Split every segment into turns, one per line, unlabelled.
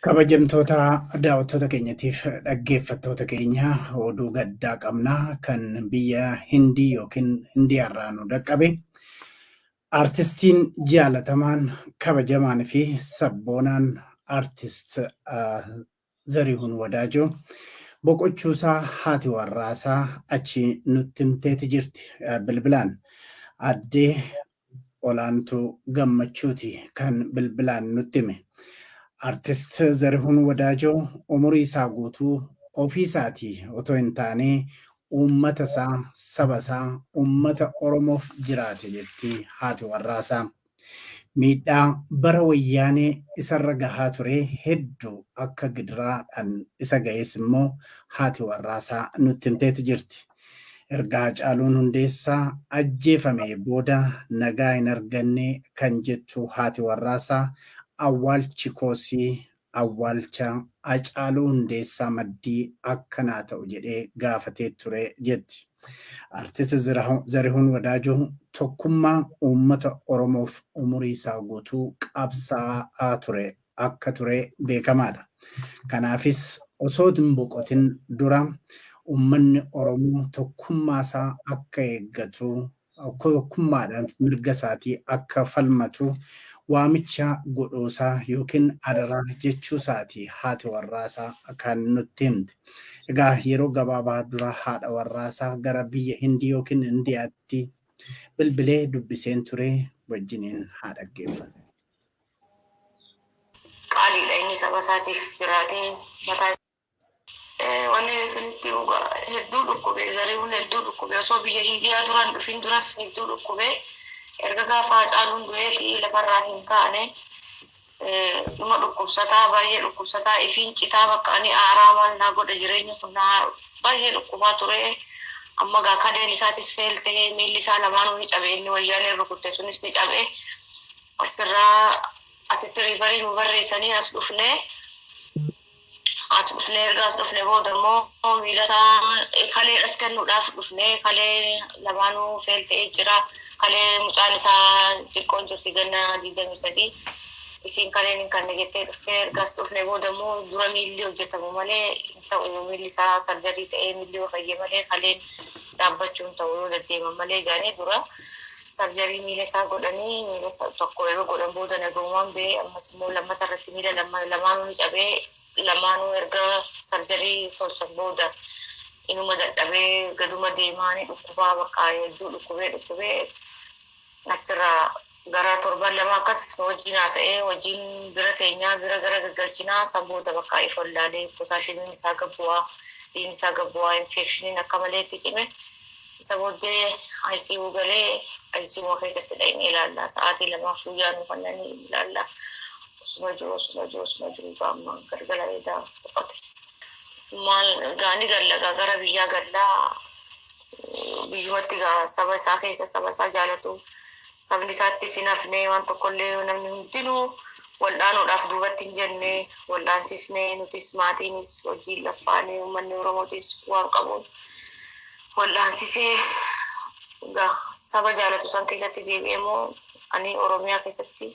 Kabajamtoota daawwattoota keenyatiif dhaggeeffattoota keenya oduu gaddaa qabna kan biyya Hindii yookiin Hindiyaarraa nu dhaqqabe. Artistiin jaalatamaan kabajamaan fi sabboonaan artist Zarihun Wadaajoo boqochuusaa haati warraasaa achi nutti himteeti jirti bilbilaan. Aadde Olaantuu Gammachuuti kan bilbilaan nutti hime. Artist Zarihun Wadaajoo umuriisaa guutuu ofiisaatii otoo hin taanee uummatasaa, sabasaa, uummata Oromoof jiraate jetti haati warraasaa. Miidhaa bara wayyaanee isarra gahaa ture heddu akka gidiraa dhan isa gahes immoo haati warraasaa nutti himteeti jirti. Erga Hacaaluun Hundeessaa ajjeefamee booda nagaa hin arganne kan jettu haati warraasaa awwaalchi koosii Awwaalcha Hacaaluu Hundeessaa maddii akka naa ta'u jedhee gaafatee ture jetti. Artist Zarihuun Wadaajoo tokkummaa uummata Oromoof umurii isaa guutuu qabsaa'aa ture akka ture beekamaadha. Kanaafis osoo hin boqotin dura uummanni Oromoo tokkummaa isaa akka eeggatu tokkummaadhaan mirga isaatii akka falmatu waamicha godhuusaa yookiin adaraa jechuusaati haati warraasaa kan nutti himte. Egaa yeroo gabaabaa dura haadha warraasaa gara biyya Hindii yookiin Indiyaatti bilbilee dubbiseen ture wajjiniin haa dhaggeeffannu.
Qaaliidha inni saba isaatiif jiraatee mataa Wanni isinitti himu gaa hedduu dhukkube zarihuun hedduu dhukkube osoo biyya Hindiyaa duran dhufin duras hedduu dhukkube erga gaafa Hacaaluun du'eeti lafarraa hin kaane dhuma dhukkubsataa baay'ee dhukkubsataa ifiin citaa bakka ani aaraa maal naa godha jireenya kun naa baay'ee dhukkubaa ture amma gaa kadeen isaatis feel ta'ee miilli isaa lamaanuu ni cabe inni wayyaaneen rukutte sunis ni cabe achirraa asitti riifarii nu barreessanii as dhufnee As dhufne erga as dhufne booda immoo miila isaa kaleedhas kennuudhaaf dhufne kalee lamaanuu feel ta'ee jira. Kalee mucaan isaa xiqqoon jirti ganna digdamii sadii. Isiin kaleen hin kanne jettee dhufte erga as dhufne booda immoo dura miilli hojjetamu malee hin ta'u miilli isaa sarjarii ta'ee miilli yoo fayye malee kaleen dhaabbachuun ta'u yoo deddeeman malee jedhanii dura sarjarii miila isaa godhanii miila tokko yeroo godhan booda nagaumaan bee ammas immoo lammata irratti miila lamaanuu ni cabee lamaanuu erga sarjarii tolchan booda inuma dadhabee gaduma deemaa ni dhukkubaa bakka hedduu dhukkubee dhukkubee Achirraa gara torban lama akkas wajjin haasa'ee wajjin bira teenyaa bira gara gaggalchinaa san booda bakka if wallaalee pootaashiimiin isaa gad bu'aa dhiin isaa gad bu'aa infeekshiniin akka malee itti cime isa booddee ICU galee ICU keessatti dhaqnee ilaallaa sa'aatii lamaaf guyyaa nu kannanii ilaallaa osuma jiru osuma jiru osuma jiru gaamma galgala edaa boqote maal gaani gallagaa gara biyyaa gallaa biyyumatti egaa saba isaa keessa saba isaa jaalatu sabni isaatti sin hafnee waan tokkollee namni hundinuu waldhaanuudhaaf duubatti hin jenne waldhaansisnee nutis maatiinis hojii laffaanee uummanni oromootis waan qabuun waldhaansisee egaa saba jaalatu san keessatti deebi'ee moo ani oromiyaa keessatti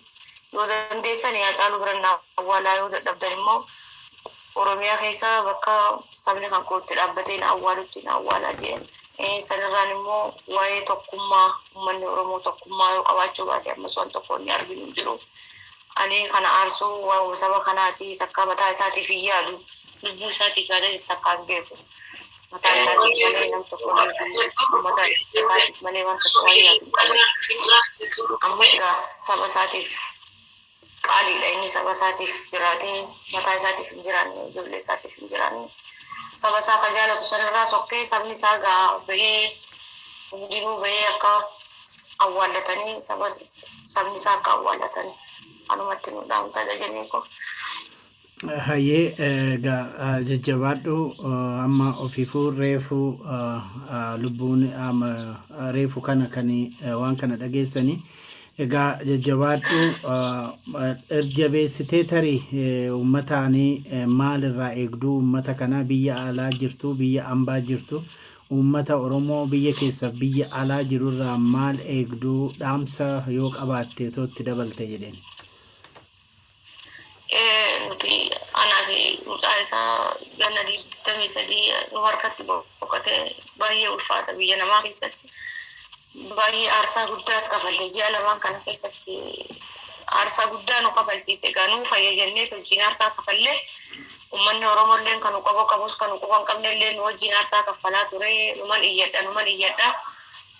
yoo dandeessan yaa caaluu biran awwaalaa yoo dadhabdan immoo Oromiyaa keessa bakka sabni kan koo itti dhaabbatee na awwaalutti na awwaalaa jeen. Sanirraan immoo waa'ee tokkummaa ummanni Oromoo tokkummaa yoo qabaachuu baate ammas waan tokko inni arginu hin jiru. Ani kana aarsuu waa'uma saba kanaati takkaa mataa isaatiif hin yaadu. Lubbuu isaatiif yaadee takkaa hin beeku. Mataa isaatiif malee nam tokko hin beeku. Uummata isaatiif malee waan tokko waan yaadu hin qabu. Ammas egaa saba isaatiif qaaliidha inni saba isaatiif jiraatee mataa isaatiif hin jiraanne ijoollee isaatiif hin jiraanne saba isaa ka jaalatu sanirraa sokkee sabni isaa gaa bahee hundinuu bahee akka awwaallatanii saba sabni isaa akka awwaallatan anumatti nu dhaamtadha jennee koo Hayyee
egaa jajjabaadhu amma ofiifuu reefu lubbuun amma reefu kana kan waan kana dhageessanii egaa jajjabaadhu erjabeessitee tarii uummataanii maal irraa eegduu uummata kanaa biyya alaa jirtu biyya ambaa jirtu uummata oromoo biyya keessa biyya alaa jiru irraa maal eegduu dhaamsa yoo qabaatte otoo itti dabalte jedheen. Nuti anaa
fi mucaa isaa ganna digdamii sadii nu harkatti boqotee baay'ee ulfaata biyya namaa keessatti. Baay'ee aarsaa guddaas kafalle ji'a lamaan kana keessatti aarsaa guddaa nu kafalchiise egaa nuu fayya jennee wajjin aarsaa kafalle uummanni Oromoo illee kan nu qabo qabus kan nu quba hin qabne illee nu wajjin aarsaa kaffalaa ture numan iyyadha numan iyyadha.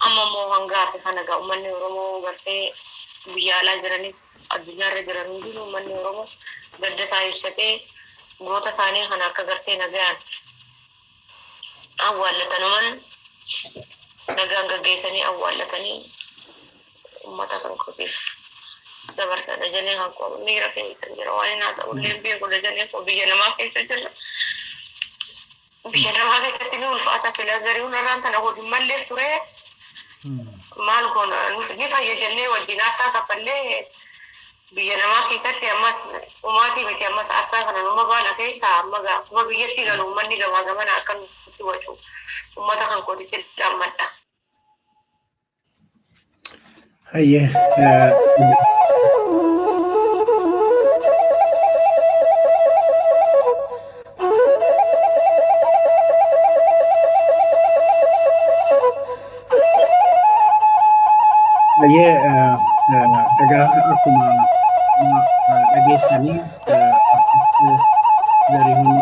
Amma immoo hanga hafe kana egaa ummanni Oromoo gartee biyya alaa jiranis addunyaa irra jiran hundinuu ummanni Oromoo gadda isaa ibsatee goota isaanii kana akka gartee nagayaan awwaallatanuman nagaan gaggeessanii awwaallatanii ummata kan kootiif dabarsa dajanee kan koo miira keessa jira waan hin haasa'u illee beeku dajanee koo biyya namaa keessa jira. Biyya namaa keessatti ni ulfaata sila zari'uun irraan tana godhu malleef ture maal goona nus ni fayya jennee wajjin aarsaa kaffallee biyya namaa keessatti ammas umaatii miti ammas aarsaa kana numa baana keessaa amma gaa akkuma biyyatti galu ummanni gamaa gamana akka nutti wacu ummata kan kootitti dhammadha.
Hayyee. Hayyee egaa akkuma dhageessanii Zarihuun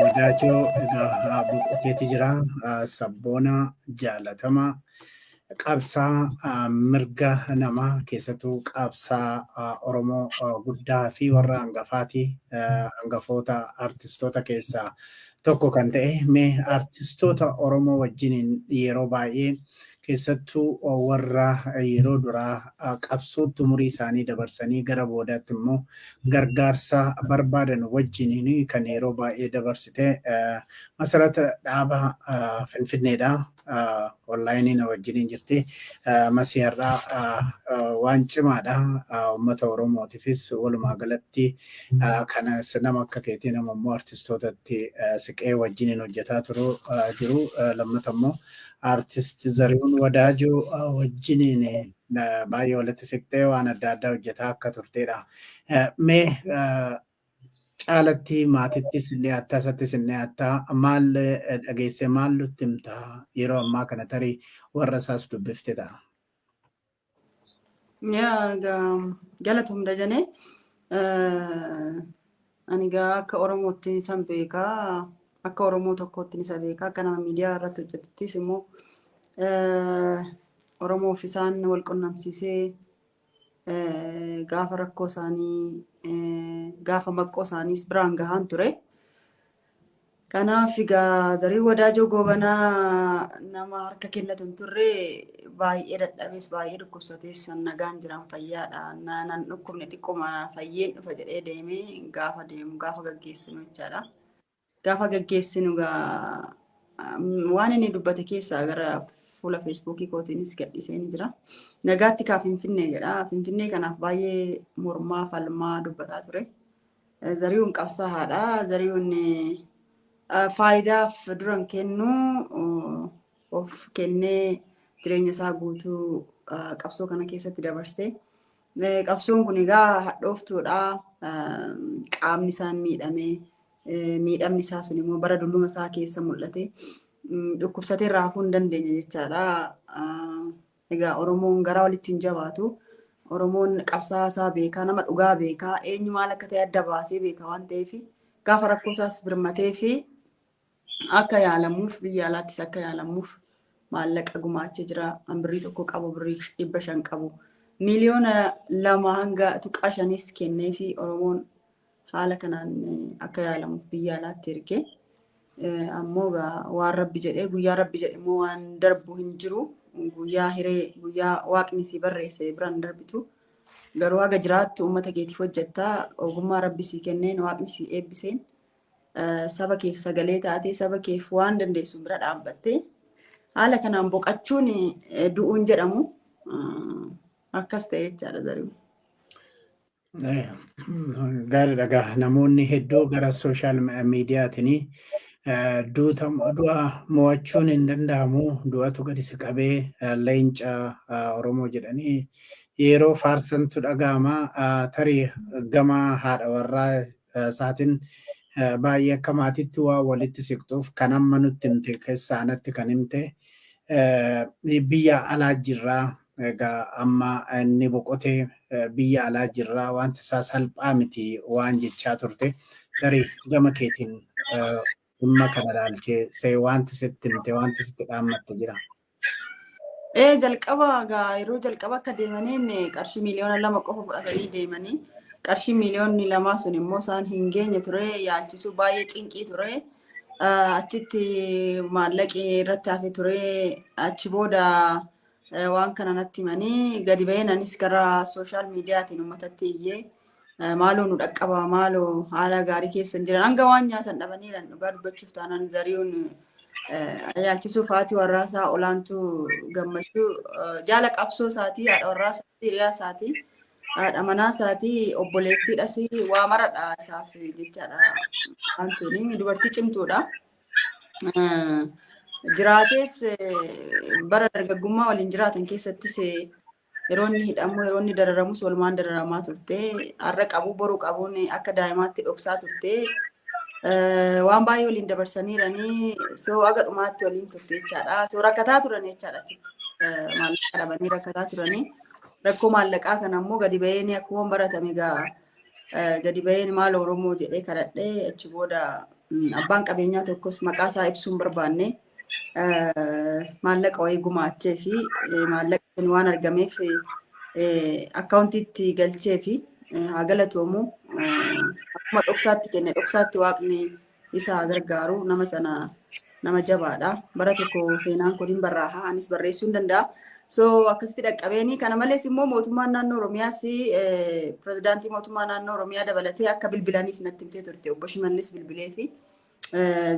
Wadaajoo egaa boqoteeti jira. Sabboona jaalatamaa. qabsaa mirga namaa keessattuu qabsaa Oromoo guddaa fi warra hangafaati hangafoota artistoota keessaa tokko kan ta'e mee artistoota Oromoo wajjiniin yeroo baay'ee keessattuu warra yeroo duraa qabsootti umurii isaanii dabarsanii gara boodaatti immoo gargaarsa barbaadan wajjiniin kan yeroo baay'ee dabarsite masarata dhaaba Finfinneedha. onlaayinii na wajjiniin jirti. Masii har'aa waan cimaadha. Uummata Oromootiifis walumaa galatti kana nama akka keetii nama immoo artistootatti siqee wajjiniin hojjetaa turu jiru. Lammata immoo artist Zarihuun Wadaajoo wajjiniin baay'ee walitti siqtee waan adda addaa hojjetaa akka turteedha. Mee Caalatti maatittis ni hattaa isattis ni hattaa maal dhageessee maal nutti himta yeroo ammaa kana tarii warra isaas dubbifte ta'a. Yaa
ga- galatoom dajanee ani gaa akka oromootti isan beekaa akka oromoo tokkootti isa beekaa akka nama miidiyaa irratti hojjetuttis immoo eh, oromoof isaan wal qunnamsiisee gaafa rakkoo isaanii gaafa maqqoo isaaniis biraan gahaan ture. Kanaaf egaa zarii wadaajoo goobanaa nama harka kennatu hin turre baay'ee dadhabees baay'ee dhukkubsatees san nagaan jiran fayyaadha. Na- Nan dhukkubne xiqquma fayyeen dhufa jedhee deemee gaafa deemu gaafa gaggeessinu jechaadha. gaafa gaggeessinu gaa waan inni dubbate keessaa gara fuula feesbuukii kootiinis gadhiisee ni jira. Nagaatti kaa Finfinnee jedha. Finfinnee kanaaf baay'ee mormaa falmaa dubbataa ture. Zarihuun qabsaa'aadha. Zarihuun faayidaaf duran kennu of kennee jireenya isaa guutuu qabsoo kana keessatti dabarsee Qabsoon kun egaa hadhooftuudha. Qaamni isaa miidhamee miidhamni isaa sun immoo bara dulluma isaa keessa mul'ate dhukkubsatee irraa hafuu hin dandeenye jechaadha. Egaa Oromoon gara walitti hin jabaatu. Oromoon qabsaa'aa isaa beekaa, nama dhugaa beekaa, eenyu maal akka ta'e adda baasee beeka waan ta'eef gaafa rakkoo isaas birmatee fi akka yaalamuuf biyya alaattis akka yaalamuuf maallaqa gumaachee jira. An birrii tokko qabu birrii dhibba shan qabu. Miliyoona lama hanga tuqaa shanis kennee fi Oromoon haala kanaan akka yaalamuuf biyya alaatti erge. Ammoo waan rabbi jedhee guyyaa rabbi jedhe immoo waan darbu hin jiru. Guyyaa hiree guyyaa waaqni si barreesse biraan darbitu. Garuu haga jiraattu uummata keetiif hojjetta. Ogummaa rabbi si kenneen waaqni si eebbiseen saba keef sagalee taatee saba keef waan dandeessu bira dhaabbattee haala kanaan boqachuun du'uun jedhamu akkas ta'e jechaadha zaruu.
Gaariidha gaa namoonni hedduu gara sooshaal miidiyaatiin du'a mo'achuun hin danda'amu du'atu gadi si qabee leenca Oromoo jedhanii yeroo faarsantu dhaga'ama tarii gama haadha warraa isaatiin baay'ee akka maatiitti waa walitti siqxuuf kan amma nutti himte keessaa anatti kan himte biyya alaa jirraa egaa amma inni boqotee biyya alaa jirraa wanti isaa salphaa miti waan jechaa turte tarii gama keetiin dhimma kana ilaalchee see wanti sitti himte wanti sitti dhaammatte jira. Ee jalqaba
gaa yeroo jalqaba akka deemaniin qarshii miiliyoona lama qofa fudhatanii deemanii qarshii miiliyoonni lamaa sun immoo isaan hin geenye ture yaalchisuu baay'ee cinqii ture. Ah, Achitti maallaqi irratti hafe ture achi booda eh, waan kana natti himanii gadi ba'een anis gara sooshaal miidiyaatiin uummatatti iyyee Eh, Maaloo nu dhaqqabaa maaloo haala gaarii keessa hin jiran hanga waan nyaatan dhabaniiran dhugaa dubbachuuf taanaan zari'uun eh, yaalchisuu faatii warraasaa olaantuu gammachuu eh, jaala qabsoo isaatii haadha warraasaa hiriyaa isaatii haadha manaa isaatii obboleettiidhas waa maradha isaaf jechaadha waan ta'eef dubartii cimtuudha. Eh, Jiraatees eh, bara dargaggummaa waliin jiraatan keessattis eh, Yeroo inni hidhamu, yeroo inni dararamus walumaan dararamaa turte. Har'a qabu boru qabuun akka daa'imaatti dhoksaa turte. Waan baay'ee waliin dabarsaniiranii soo aga dhumaatti waliin turte jechaadha. Soo rakkataa turan jechaadha. Maallaqa dhabanii rakkataa turanii. Rakkoo maallaqaa kana immoo gadi ba'een akkuma baratame egaa gadi ba'een maal Oromoo jedhee kadhadhee achi booda abbaan qabeenyaa tokkos maqaa isaa ibsuun barbaanne. maallaqa wayii gumaachee fi maallaqa sun waan argameef akkaawuntiitti galchee fi haa galatoomu akkuma dhoksaatti kenne dhoksaatti waaqni isa haa gargaaru nama sana nama jabaadha bara tokko seenaan kun hin barraaha anis barreessuu hin danda'a. So akkasitti dhaqqabeeni kana malees immoo mootummaan naannoo Oromiyaas pirezidaantii mootummaa naannoo Oromiyaa dabalatee akka bilbilaniif natti himtee turte obbo Shimallis bilbilee fi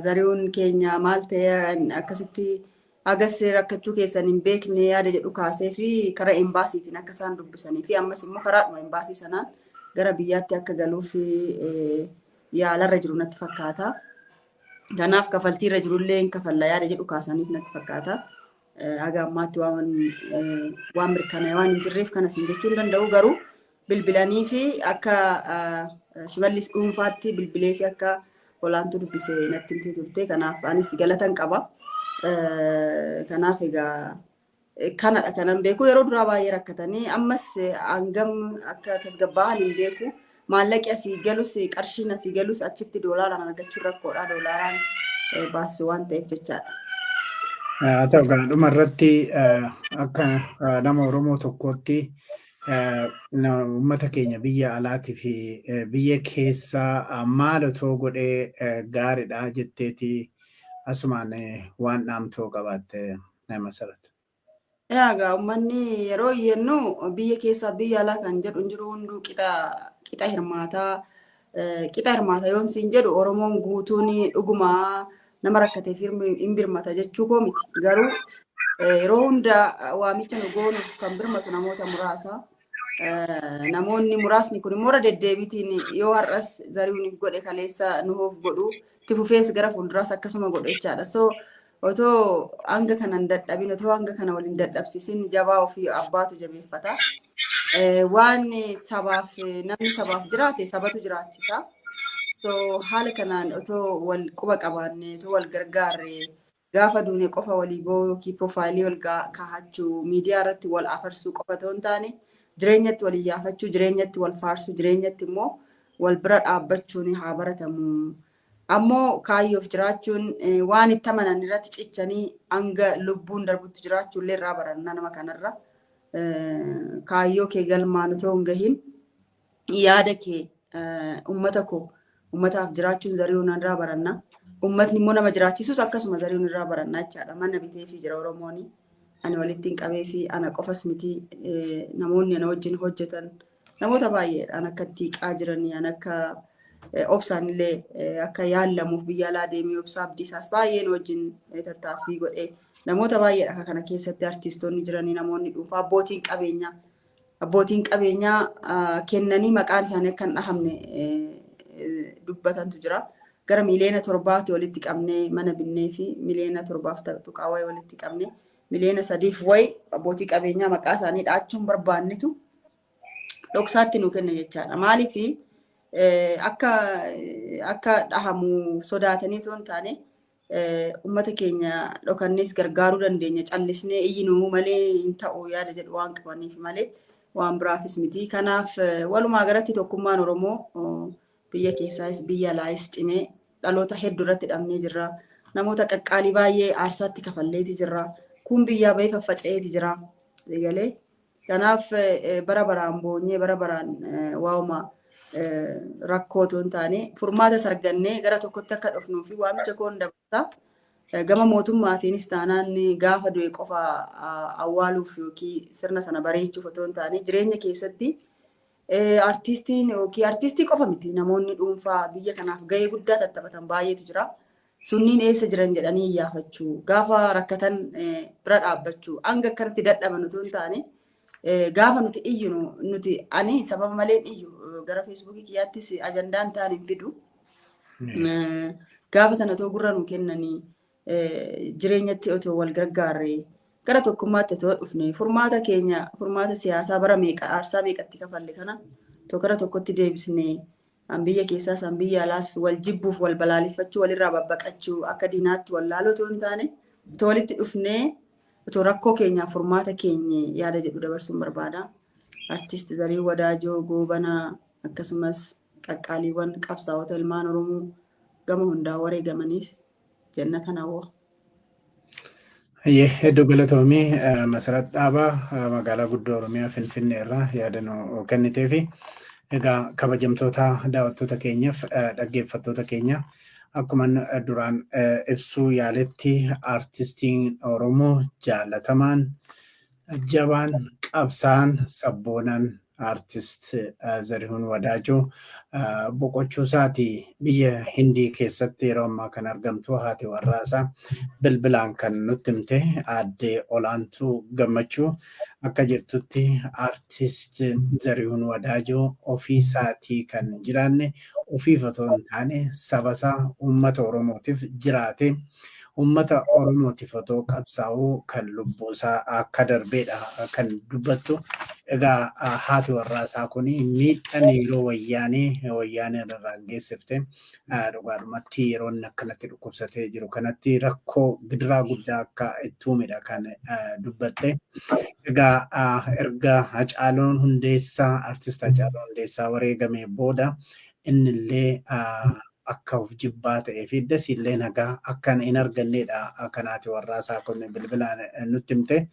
Zarihuun keenya maal ta'e akkasitti agas rakkachuu keessan hin beekne yaada jedhu kaasee fi karaa embaasiitiin akka isaan dubbisanii fi ammas immoo karaadhuma embaasii sanaan gara biyyaatti akka galuuf yaalarra jiru natti fakkaata. Kanaaf kafaltiirra jirullee hin kafalla yaada jedhu kaasaniif natti fakkaata. Haga ammaatti waan waan mirkanaa'e waan hin jirreef kana isin jechuu hin danda'u garuu bilbilanii fi akka shimallis dhuunfaatti bilbilee fi akka olaantuu dubbise natti himtee turte kanaaf anis galatan qaba. Kanaaf egaa kanadha kanan beeku yeroo duraa baay'ee rakkatanii ammas hangam akka tasgabbaa'an hin beeku. Maallaqi asii galus qarshiin asii galus achitti doolaaraan argachuun rakkoodha. Doolaaraan eh, baasisu waan ta'eef jechaadha. Haa
ta'u egaa dhuma irratti eh, akka eh, nama Oromoo tokkootti eh, na- uummata keenya biyya alaatii fi eh, biyya keessaa ah, maal otoo godhee eh, gaariidha jetteeti asumaan eh, waan dhaamtoo qabaatte eh, masarat. Egaa
uummanni yeroo iyyannu biyya keessaa biyya alaa kan jedhu hin jiru hunduu qixa qixa hirmaataa eh, qixa hirmaata yoon siin jedhu Oromoon guutuun dhuguma nama rakkateef hirmi- hin birmata jechuu koo miti garuu eh, yeroo hunda eh, waamicha nu goonuuf kan birmatu namoota muraasa. Eh, Namoonni muraasni kun immoo irra deddeebiitiin yoo har'as zari'uun godhe kaleessa nuuf godhu itti fufees gara fuulduraas akkasuma godhe jechaadha. So Otoo hanga kana hin dadhabin, otoo hanga kana wal hin dadhabsiisin jabaa ofii abbaatu jabeeffata. Eh, Waan sabaaf namni sabaaf jiraate sabatu jiraachisa. So haala kanaan otoo wal quba qabaanne, otoo wal gargaarre gaafa duune qofa walii boo'uu yookiin piroofaayilii wal gaa- kaahachuu, miidiyaa irratti wal afarsuu qofa otoo hin taane jireenyatti wal iyyaafachuu, jireenyatti wal faarsuu, jireenyatti immoo wal bira dhaabbachuun haa baratamu. Ammoo kaayyoof jiraachuun waan itti amanan irratti cichanii hanga lubbuun darbutti jiraachuullee irraa baranna nama kanarra. Kaayyoo kee galmaan otoo hin gahin yaada kee ummata koo ummataaf jiraachuun zari'uun irraa baranna. Ummatni immoo nama jiraachisus akkasuma zari'uun irraa baranna jechaadha. Mana biteefii jira Oromooni. Ani walittiin qabeefii ana qofas miti namoonni ana wajjin hojjetan Namoota baay'eedhaan akka itti hiiqaa jiranii an akka eh, obsaan illee eh, akka yaallamuuf biyya alaa deemee obsaa abdiisaas baay'een wajjin eh, tattaaffii godhee namoota baay'eedha akka kana keessatti artiistoonni jiranii namoonni dhuunfaa abbootiin qabeenyaa abbootiin qabeenyaa ah, kennanii maqaan isaanii akka hin dhahamne eh, eh, dubbatantu jira. Gara miliyoona torbaatti walitti qabnee mana binnee fi miliyoona torbaaf tuqaa wayii walitti qabnee miliyoona sadiif wayi abbootii qabeenyaa maqaa isaanii dhaachuun barbaannitu dhoksaatti nu kenna jechaadha. Maaliif akka akka dhahamu sodaatanii osoo hin taane uummata keenya dhokannees gargaaruu dandeenya callisnee iyyinuu malee hin ta'u yaada jedhu waan qabaniif malee waan biraafis miti. Kanaaf walumaa galatti tokkummaan Oromoo biyya keessaas biyya alaayis cimee Dhaloota heddu irratti dhabnee jirra. Namoota qaqqaalii baay'ee aarsaatti kafalleeti jirra. Kun biyyaa bahee faffaca'eeti jira. Eegalee. Kanaaf bara baraan boonyee bara baraan waa'uma rakkoo otoo hin taane furmaata sargannee gara tokkotti akka dhufnuu fi waamicha koon dabarsa. Gama mootummaatiinis taanaan gaafa du'e qofa awwaaluuf yookiin sirna sana bareechuuf otoo hin taane jireenya keessatti Artiistiin yookiin artiistii qofa miti namoonni dhuunfaa biyya kanaaf gahee guddaa tattaphatan baay'eetu jira. Sunniin eessa jiran jedhanii iyyaafachuu, gaafa rakkatan bira dhaabbachuu, hanga akkanatti dadhaban utuu hin taane gaafa nuti iyyinu nuti ani sababa maleen iyyu gara feesbuukii kiyyaattis ajandaan ta'an hin fidu. Gaafa sana otoo gurra nuu kennanii jireenyatti otoo wal gargaarree gara tokkummaatti otoo dhufne furmaata keenya furmaata siyaasaa bara meeqa aarsaa meeqatti kafalle kana otoo gara tokkotti deebisne an biyya keessaas an biyya alaas wal jibbuuf wal balaaleffachuu walirraa babbaqachuu akka diinaatti wal laaluu otoo hin taane otoo walitti dhufnee otoo rakkoo keenyaaf furmaata keenye yaada jedhu dabarsuun barbaada. Artiist Zarii Wadaajoo Goobanaa akkasumas qaqqaaliiwwan qabsaa'ota ilmaan Oromoo gama hundaa wareegamaniif jenna kana woo. Hayyee
hedduu galatoomi Masarat Dhaabaa magaalaa guddoo Oromiyaa Finfinnee irraa yaada nu kennitee fi egaa kabajamtoota daawwattoota keenyaaf dhaggeeffattoota keenya akkuma duraan ibsuu yaaletti aartistiin Oromoo jaalatamaan Jabaan, qabsaa'aan, sabboonaan Artist Zarihuun Wadaajoo boqochuu isaati biyya Hindii keessatti yeroo ammaa kan argamtu haati warraa isaa bilbilaan kan nutti himte aadde Olaantuu Gammachuu akka jirtutti Artist Zarihuun Wadaajoo ofii isaatii kan hin jiraanne ofiif otoo hin taane saba isaa uummata Oromootiif jiraate Uummata Oromootiif otoo qabsaa'uu kan lubbuusaa akka darbeedha kan dubbattu. Egaa haati warraasaa kun miidhaan yeroo wayyaanee wayyaaneen irraan geessifte dhugaadhumatti yeroo inni akkanatti dhukkubsatee jiru kanatti rakkoo gidiraa guddaa akka itti uumedha kan dubbatte. Egaa erga Hacaaluun Hundeessaa artist Hacaaluun Hundeessaa wareegamee booda innillee akka of jibbaa ta'ee fi dasiillee nagaa akka hin arganneedha kan haati warraa isaa kun bilbilaan nutti himte.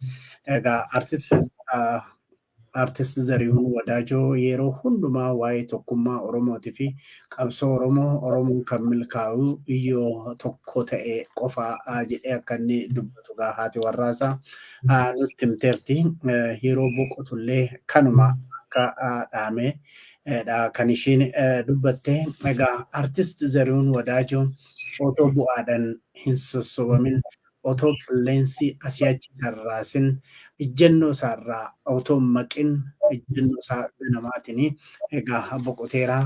Egaa artist Zarihuun Wadaajoo yeroo hundumaa waa'ee tokkummaa Oromootii fi qabsoo Oromoo Oromoon kan milkaa'u yoo tokko ta'e qofaa jedhee akka inni dubbatu egaa haati warraa isaa nutti himteerti. Yeroo boqotullee kanuma akka dhaamee dha kan ishiin dubbatte. Egaa Artist Zarihuun Wadaajoo otoo bu'aadhan hin sossobamin, otoo qilleensi asii achi isa hin raasin, ijjannoo isaa irraa otoo hin maqin, ijjannoo isaa ganamaatiin egaa boqoteera.